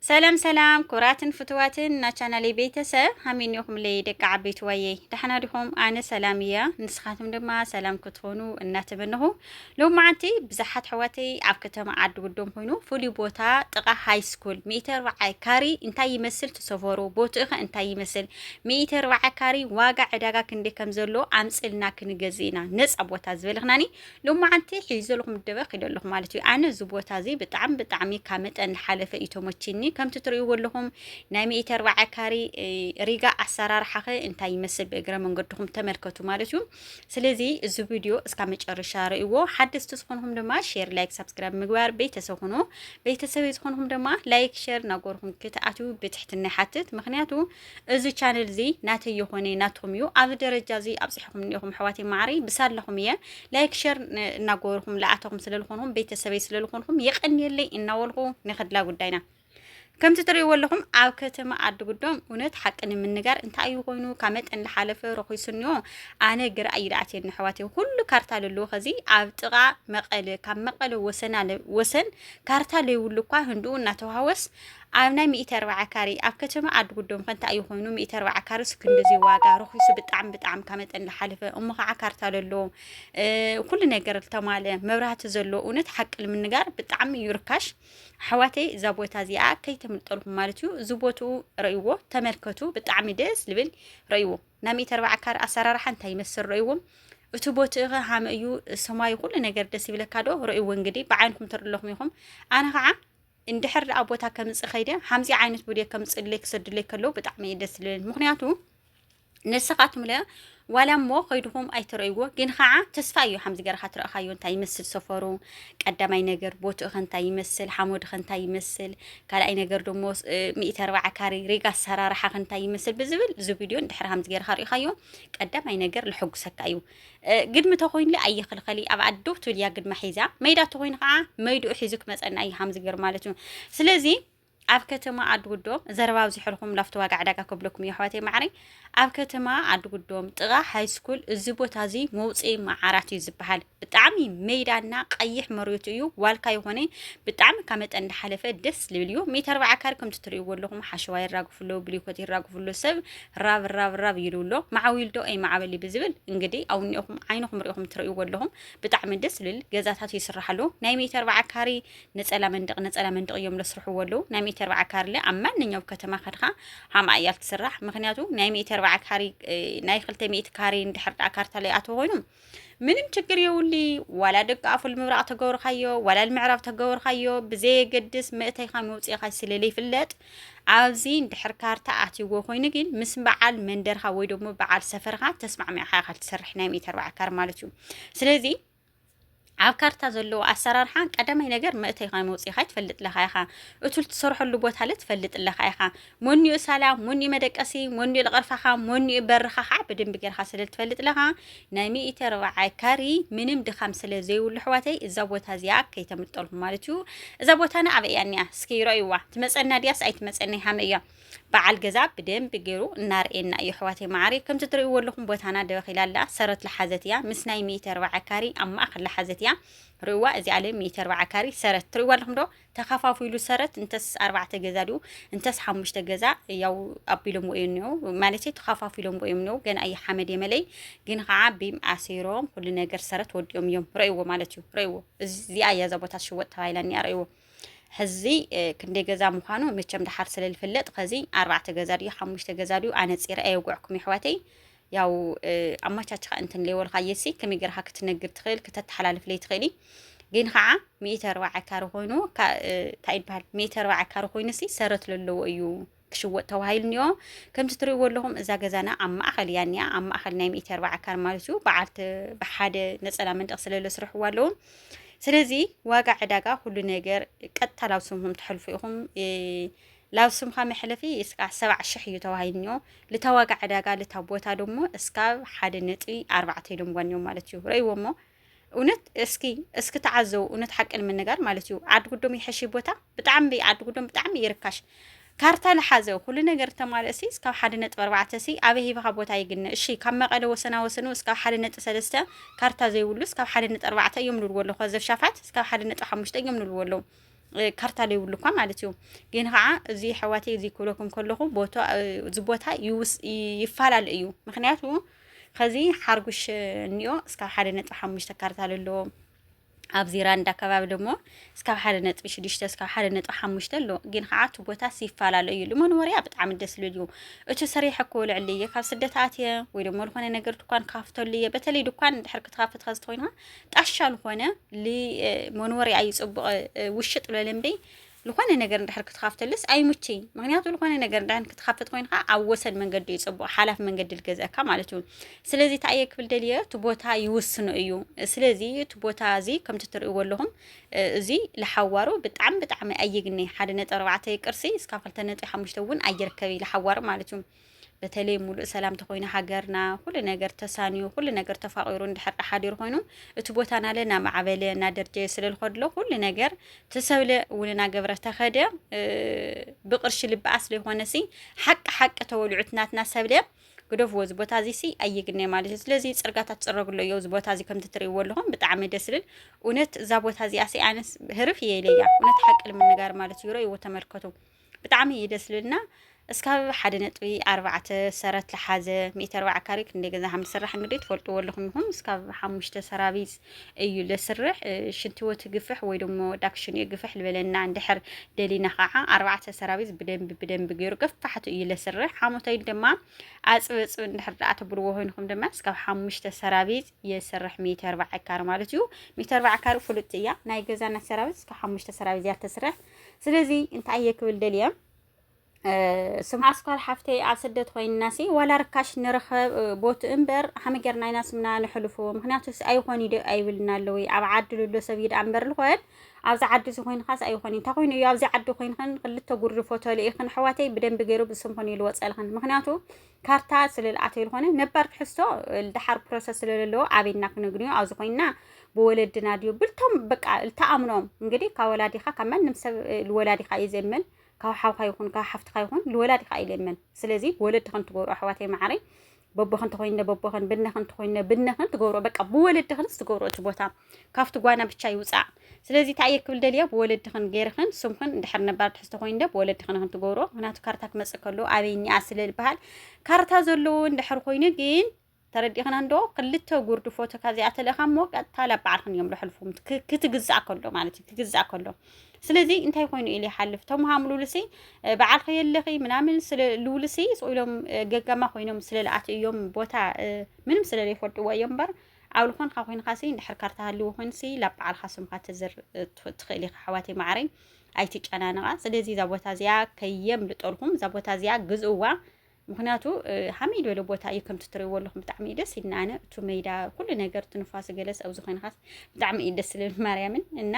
ሰላም ሰላም ኩብራትን ፍትዋትን ናቻናለይ ቤተሰብ ሃሚኒኹምለይ ደቂ ዓበይቲ ዋየይ ዳሕና ዲኹም ኣነ ሰላም እያ ንስኻትም ድማ ሰላም ክትኾኑ እናተመንኹ ሎም መዓንቲ ብዙሓት ሕዋተይ ኣብ ከተማ ዓዲ ጉዶም ኮይኑ ፍሉይ ቦታ ጥቓ ሃይ ስኩል ሚእቲ ኣርባዓይ ካሪ እንታይ ይመስል ትሰፈሩ ቦትኡ ኸ እንታይ ይመስል ሚእቲ ኣርባዓይ ካሪ ዋጋ ዕዳጋ ክንደይ ከም ዘሎ ኣምፅልና ክንገዝእ ኢና ነፃ ቦታ ዝበልኽናኒ ሎማዓንቲ ሒዘልኩም ደበ ኪደ ኣለኹ ማለት እዩ ኣነ እዚ ቦታ እዚ ብጣዕሚ ብጣዕሚ ካብ መጠን ሓለፈ እዩ ተመችኒ ከምቲ ትርእይዎ ኣለኹም ናይ ሚእቲ ኣርባዓ ካሪ ሪጋ ኣሰራርሓ ኸ እንታይ ይመስል ብእግረ መንገድኹም ተመልከቱ ማለት እዩ ስለዚ እዚ ቪድዮ እስካ መጨረሻ ርእይዎ ሓደስቲ ዝኾንኹም ድማ ሼር ላይክ ሳብስክራይብ ምግባር ቤተሰብ ኹኑ ቤተሰብ ዝኾንኹም ድማ ላይክ ሼር ናጎርኹም ክትኣትው ብትሕትና ይሓትት ምክንያቱ እዚ ቻነል እዚ ናተይ የኾነ ናትኩም እዩ ኣብ ደረጃ እዚ ኣብፅሕኹም እኒኹም ኣሕዋተይ ማዕረይ ብሳለኹም እየ ላይክ ሸር እናገበርኹም ለኣተኹም ስለልኾንኹም ቤተሰበይ ስለልኾንኹም የቀንየለይ እናበልኹ ንክድላ ጉዳይና ከምቲ ትርእይዎ ኣለኹም ኣብ ከተማ ዓዲ ጉዶም እውነት ሓቂ ንምንጋር እንታይ እዩ ኮይኑ ካብ መጠን ዝሓለፈ ረኺሱኒዮ ኣነ ግራ እዩ ዝኣትየኒ ኣሕዋተይ ኩሉ ካርታ ዘለዎ ከዚ ኣብ ጥቓ መቐለ ካብ መቐለ ወሰና ወሰን ካርታ ለይብሉ እኳ ህንድኡ እናተዋህወስ ኣብ ናይ ሚእቲ ኣርባዓ ካሬ ኣብ ከተማ ዓዲ ጉዶም ከ እንታይ እዩ ኮይኑ ሚእቲ ኣርባዓ ካሬ ሱ ክንድዚ ዋጋ ርኺሱ ብጣዕሚ ብጣዕሚ ካብ መጠን ዝሓለፈ እሞ ከዓ ካርታ ለሎ ኩሉ ነገር ዝተማለ መብራህቲ ዘሎ እውነት ሓቂ ንምንጋር ብጣዕሚ እዩ ርካሽ ኣሕዋተይ እዛ ቦታ እዚኣ ከይተምልጠልኩም ማለት እዩ እዚ ቦትኡ ረእይዎ ተመልከቱ ብጣዕሚ ደስ ዝብል ረእይዎ ናይ ሚእቲ ኣርባዓ ካሬ ኣሰራርሓ እንታይ ይመስል ረእይዎ እቲ ቦትኡ ኸ ሃመ እዩ ሰማዩ ኩሉ ነገር ደስ ይብለካ ዶ ረእይዎ እንግዲህ ብዓይንኩም ተርለኹም ኢኹም ኣነ ከዓ እንድሕር ደኣ ቦታ ከምፅእ ከይደ ሓምዚ ዓይነት ቪድዮ ከምፅእለይ ክሰዱለይ ከለዉ ብጣዕሚ እዩ ደስ ዝብለኒ ምክንያቱ ንስኻትኩም ለ ዋላ እሞ ከይድኹም ኣይትረእይዎ ግን ከዓ ተስፋ እዩ ሓምዚ ገርካ ትረእኻዮ እንታይ ይመስል ሰፈሩ ቀዳማይ ነገር ቦትኡ ከንታይ ይመስል ሓሞድ ከንታይ ይመስል ካልኣይ ነገር ደሞ ሚእቲ ኣርባዓ ካሪ ሪጋ ኣሰራርሓ ከንታይ ይመስል ብዝብል እዚ ቪድዮ እንድሕር ሓምዚ ገርካ ሪእኻዮ ቀዳማይ ነገር ልሕጉሰካ እዩ ግድሚ ተኮይኑለ ኣይኽልኸሊ ኣብ ዓዲ ዶ ትብል እያ ግድማ ሒዛ መይዳ ተኮይኑ ከዓ መይድኡ ሒዙ ክመፀና እዩ ሃምዚ ገይሩ ማለት እዩ ስለዚ ኣብ ከተማ ዓድጉዶም ዘረባ ኣብዚሐልኩም ላፍቶ ዋጋ ዕዳጋ ከብለኩም እዩ ኣሕዋተይ ማዕረይ ኣብ ከተማ ዓድጉዶም ጥቓ ሃይስኩል እዚ ቦታ እዚ መውፅኢ መዓራት እዩ ዝበሃል ብጣዕሚ ሜዳና ቀይሕ መሬቱ እዩ ዋልካ ይኾነ ብጣዕሚ ካብ መጠን እንዳሓለፈ ደስ ዝብል እዩ ሜትር ኣርባዓ ካር ከምቲ ትርእይዎ ኣለኹም ሓሸዋ ይራግፍሎ ብሊኮት ይራግፍሎ ሰብ ራብ ራብ ራብ ይሉ ኣሎ መዓዊል ዶ ኣይ መዓበሊ ብዝብል እንግዲህ ኣውኒኦኹም ዓይንኹም ሪኢኹም ትርእይዎ ኣለኹም ብጣዕሚ ደስ ዝብል ገዛታት ይስራሕ ኣሎ ናይ ሚእቲ ኣርባዓ ካሪ ነፀላ መንደቅ ነፀላ መንደቅ እዮም ለስርሕዎ ኣለዉ ናይ ሚእቲ ኣርባዓ ካሪ ለ ኣብ ማንኛው ከተማ ከድኻ ሓምኣ እያ ትስራሕ ምክንያቱ ናይ ሚእቲ ኣርባዓ ካሪ ናይ ክልተ ሚእቲ ካሪ እንድሕር ዳኣ ካርታ ለይኣተዎ ኮይኑ ምንም ችግር የውሊ ዋላ ደቂ ኣፉል ምብራቕ ተገብርካዮ ዋላ ምዕራብ ተገብርካዮ ብዘየገድስ መእተይካ መውፅኢካ ስለለይፍለጥ ኣብዚ ድሕር ካርታ ኣትይዎ ኮይኑ ግን ምስ በዓል መንደርካ ወይ ደግሞ በዓል ሰፈርካ ተስማዕሚዕካ ኢካ ትሰርሕ ናይ ሜተር በዓል ካር ማለት እዩ ስለዚ ኣብ ካርታ ዘለዎ ኣሰራርሓ ቀዳማይ ነገር መእተይኻ ወይ መውፅኢኻ ትፈልጥ ለኻ ኢኻ እቱል ትሰርሐሉ ቦታ ለ ትፈልጥ ለኻ ኢኻ ሞኒኡ ሳላ ሞኒኡ መደቀሲ ሞኒኡ ልቐርፋኻ ሞኒኡ በርኻ ከዓ ብደንቢ ገርኻ ስለ ትፈልጥ ለኻ ናይ ሚእተ ርብዓይ ካሪ ምንም ድኻም ስለ ዘይብሉ ኣሕዋተይ እዛ ቦታ እዚኣ ከይተምልጠልኩም ማለት እዩ እዛ ቦታና ኣበይ እያ እኒኣ እስኪ ረእዩዋ ትመፀና ድያስ ኣይትመፀና ሃመ እያ በዓል ገዛ ብደንቢ ገይሩ እናርኤና እዩ ኣሕዋተይ መዓረይ ከምቲ ትርእይዎ ኣለኹም ቦታና ደበኺላ ኣላ ሰረት ልሓዘት እያ ምስ ናይ ሚእቲ ኣርባዓ ካሪ ኣብ ማእኸል ልሓዘት እያ ርእዋ እዚ ኣለ ሚእቲ ኣርባዓ ካሪ ሰረት ትርእይዎ ኣለኹም ዶ ተኸፋፊሉ ሰረት እንተስ ኣርባዕተ ገዛ ድኡ እንተስ ሓሙሽተ ገዛ ያው ኣቢሎምዎ እዩ እኒኦ ማለት ተኸፋፊሎምዎ እዮም እኒኦ ገና እዩ ሓመድ የመለይ ግን ከዓ ቢም ኣሲሮም ኩሉ ነገር ሰረት ወዲኦም እዮም ረእይዎ ማለት እዩ ረእይዎ እዚኣ እያ እዛ ቦታ ትሽወጥ ተባሂላ እኒኣ ረእይዎ ሕዚ ክንደይ ገዛ ምዃኑ መቸም ድሓር ስለ ዝፍለጥ ከዚ ኣርባዕተ ገዛ ድዩ ሓሙሽተ ገዛ ድዩ ኣነፂረ ኣየውግዕኩም የሕዋተይ ያው ኣማቻችኻ እንትን ለይወልካ የሲ ከመይ ገርካ ክትነግር ትኽእል ክተተሓላልፍ ለይ ትኽእሊ ግን ከዓ ሚእተ ኣርባዓ ካሪ ኮይኑ እንታይ ይበሃል ሚእተ ኣርባዓ ካሪ ኮይኑሲ ሰረት ዘለዎ እዩ ክሽወጥ ተባሂሉ እኒኦ ከምቲ ትሪእዎ ኣለኹም እዛ ገዛና ኣብ ማእኸል እያ እኒኣ ኣብ ማእኸል ናይ ሚእቲ ኣርባዓ ካር ማለት እዩ በዓልቲ ብሓደ ነፀላ መንደቕ ስለለ ስርሕዋ ኣለዉ ስለዚ ዋጋ ዕዳጋ ኩሉ ነገር ቀጥታ ላብ ስምኩም ተሕልፉ ኢኹም ላብ ስምካ መሕለፊ እስካ ሰብዓ ሽሕ እዩ ተባሂሉ እኒኦ ልታ ዋጋ ዕዳጋ ልታ ቦታ ደሞ እስካብ ሓደ ነጥቢ ኣርባዕተ ኢሎምዋ እኒኦም ማለት እዩ ረእይዎ እሞ እውነት እስኪ እስኪ ተዓዘቡ እውነት ሓቂ ንምንጋር ማለት እዩ ዓዲ ጉዶም ይሐሽ ቦታ ብጣዕሚ ዓዲ ጉዶም ብጣዕሚ ይርካሽ ካርታ ልሓዘ ኩሉ ነገር ተማልእ ሲ እስካብ ሓደ ነጥቢ ኣርባዕተ ሲ ኣበይ ሂብኻ ቦታ ይግነ እሺ ካብ መቐለ ወሰና ወሰኑ እስካብ ሓደ ነጥቢ ሰለስተ ካርታ ዘይብሉ እስካብ ሓደ ነጥቢ ኣርባዕተ እዮም ንብልዎ ኣለኹ ዘብ ሻፋት እስካብ ሓደ ነጥቢ ሓሙሽተ እዮም ንብልዎ ኣለዉ ካርታ ዘይብሉ እኳ ማለት እዩ ግን ከዓ እዚ ሕዋቴ እዚ ክብለኩም ከለኹ ቦታ እዚ ቦታ ይፈላለ እዩ ምክንያቱ ኸዚ ሓርጉሽ እኒኦ እስካብ ሓደ ነጥቢ ሓሙሽተ ካርታል ኣለዎ ኣብ ዚራንዳ ከባቢ ደሞ እስካብ ሓደ ነጥቢ ሽዱሽተ እስካብ ሓደ ነጥቢ ሓሙሽተ ኣሎ ግን ከዓ እቲ ቦታስ ይፈላለ እዩ ልመንወርያ ብጣዕሚ ደስ ዝብል እዩ እቲ ሰሪሐ እኮ ልዕሊ እየ ካብ ስደት ኣትየ ወይ ደሞ ዝኾነ ነገር ድኳን ክካፍተሉ እየ በተለይ ድኳን ድሕር ክትካፍት ከዚ ኮይንካ ጣሻ ዝኾነ መኖርያ እዩ ፅቡቅ ውሽጥ ለለምበይ ልኾነ ነገር እንድሕር ክትኻፍተሉስ ኣይሙችይን ምክንያቱ ልኾነ ነገር እንድሕር ክትኻፍት ኮይንካ ኣብ ወሰን መንገዲ እዩ ጽቡቅ ሓላፍ መንገዲ ልገዘእካ ማለት እዩ ስለዚ ታየ ክብል ደልየ እቲ ቦታ ይውስኖ እዩ ስለዚ እቲ ቦታ እዚ ከምቲ ትርእይዎ ኣለኹም እዚ ልሓዋሩ ብጣዕሚ ብጣዕሚ ኣይግኒ ሓደ ነጥቢ ኣርባዕተ ቅርሲ እስካብ ክልተ ነጥቢ ሓሙሽተ እውን ኣይርከብ እዩ ልሓዋሩ ማለት እዩ በተለይ ሙሉእ ሰላም ተኮይኑ ሃገርና ኩሉ ነገር ተሳንዩ ኩሉ ነገር ተፋቂሩ እንድሕር ሓዲሩ ኮይኑ እቲ ቦታ ናለ እናማዕበለ እናደርጀየ ስለ ዝኸድሎ ኩሉ ነገር ተሰብለ እውን እናገብረ ተኸደ ብቅርሺ ልበኣ ስለይኮነሲ ሓቂ ሓቂ ተወልዑት ናትና ሰብለ ግደፍዎ እዚ ቦታ እዚ ሲ ኣይግነ ማለት እዩ ስለዚ ፅርጋታት ፅረግሎ እዮ እዚ ቦታ እዚ ከምቲ ትርእይዎ ኣለኹም ብጣዕሚ ደስ ዝብል እውነት እዛ ቦታ እዚኣ ሲ ኣነስ ህርፍ እየ ኢለያ እውነት ሓቂ ልምንጋር ማለት እዩ ረእይዎ ተመልከቱ ብጣዕሚ እዩ ደስ ዝብልና እስካብ ሓደ ነጥቢ ኣርባዕተ ሰረት ዝሓዘ ሚእቲ ኣርባዓ ካሬ ክንደይ ገዛ ከም ዝስራሕ እንግዲህ ትፈልጥዎ ኣለኹም ኢኹም እስካብ ሓሙሽተ ሰራቢት እዩ ለስርሕ ሽንትዎ ትግፍሕ ወይ ደሞ ዳክሽን እዩ ግፍሕ ልበለና እንድሕር ደሊና ከዓ ኣርባዕተ ሰራቢት ብደንቢ ብደንቢ ገይሩ ገፋሕቱ እዩ ለስርሕ ሓሞታይ ድማ ኣፅበፅብ እንድሕር ደኣ ትብልዎ ኮይንኩም ድማ እስካብ ሓሙሽተ ሰራቢት የስርሕ ሚእቲ ኣርባዓ ካሬ ማለት እዩ ሚእቲ ኣርባዓ ካሬ ፍሉጥቲ እያ ናይ ገዛና ሰራቢት እስካብ ሓሙሽተ ሰራቢት እያ ተስርሕ ስለዚ እንታይ እየ ክብል ደልየ ስምዓ ስኳል ሓፍተይ ኣብ ስደት ኮይንናሲ ዋላ ርካሽ ንረኸብ ቦት እምበር ሃመ ጌርና ኢና ስምና ንሕልፎ ምክንያቱ ኣይኾን ይደ ኣይብልና ኣለዊ ኣብ ዓዲ ልሎ ሰብ ይድ ኣንበር ልኾን ኣብዚ ዓዲ እዚ ኮይንካስ ኣይኾን እንታይ ኮይኑ እዩ ኣብዚ ዓዲ ኮይንክን ክልተ ጉርዲ ፎቶ ልኢክን ኣሕዋተይ ብደንቢ ገይሩ ብስምክን ይልወፀልክን ምክንያቱ ካርታ ስለልኣተ ዝኾነ ነባር ትሕዝቶ ድሓር ፕሮሰስ ስለለለዎ ኣበይና ክነግንዮ ኣብዚ ኮይና ብወለድና ድዩ ብልቶም በቃ ልተኣምኖም እንግዲህ ካብ ወላዲኻ ካብ ማንም ሰብ ልወላዲኻ እዩ ዘምን ካብ ሓውካ ይኹን ካብ ሓፍትካ ይኹን ልወላዲኻ እዩ ዘምን ስለዚ ወለድ ከም ትገብሩ ኣሕዋተይ ማዕረይ በቦኽን ተኮይነ በቦኽን ብነኽን ተኮይነ ብነኽን ትገብሮ በቃ ብወለድኽንስ ትገብሮ እቲ ቦታ ካብቲ ጓና ብቻ ይውፃእ ስለዚ እንታይ እየ ክብል ደልየ ብወለድኽን ገይርኽን ስምኽን እንድሕር ነባር ትሕዝቶ ኮይኑ ዶ ብወለድኽን ኽን ትገብሮ ምክንያቱ ካርታ ክመፅእ ከሎ ኣበይ እኒኣ ስለ ዝበሃል ካርታ ዘለዎ እንድሕር ኮይኑ ግን ተረዲእኽን እንዶ ክልተ ጉርዲ ፎቶ ካብዚኣ ተልእኻ እሞ ቀጥታ ላብ በዓልኽን እዮም ልሕልፉ ክትግዛእ ከሎ ማለት እዩ ክግዛእ ከሎ ስለዚ እንታይ ኮይኑ ኢሉ ይሓልፍ ቶም ሃምሉልሲ በዓልኺ የለኺ ምናምን ስለ ልውልሲ ኢሎም ገጋማ ኮይኖም ስለ ልኣት እዮም ቦታ ምንም ስለ ዘይፈልጥዎ እዮም እምበር ዓው ልኾንካ ኮይንካሲ እንድሕር ካርታ ሃልዎ ኮይንሲ ላብ በዓልካ ስምካ ተዝር ትኽእል ኢኻ ኣሕዋተይ ማዕረይ ኣይትጨናነቓ ስለዚ እዛ ቦታ እዚኣ ከየምልጠልኩም እዛ ቦታ እዚኣ ግዝእዋ ምክንያቱ ሃመይ ዝበለ ቦታ እዩ ከምቲ ትሪእዎ ኣለኹም ብጣዕሚ እዩ ደስ ኢልና ኣነ እቲ ሜዳ ኩሉ ነገር ትንፋስ ገለስ ኣብዚ ኮይንካስ ብጣዕሚ እዩ ደስ ዝብል ማርያምን እና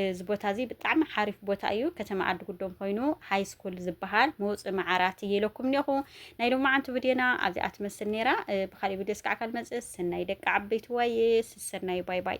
እዚ ቦታ እዚ ብጣዕሚ ሓሪፍ ቦታ እዩ ከተማ ዓዲ ጉዶም ኮይኑ ሃይ ስኩል ዝበሃል መውፅኢ መዓራት እየ ኢለኩም እኒኹ ናይ ሎማዓንቲ ቪድዮና ኣብዚኣ ትመስል ነይራ ብካሊእ ቪድዮ ስካዕ ካልመፅእ ሰናይ ደቂ ዓበይቲ ዋይ ሰናይ ባይ ባይ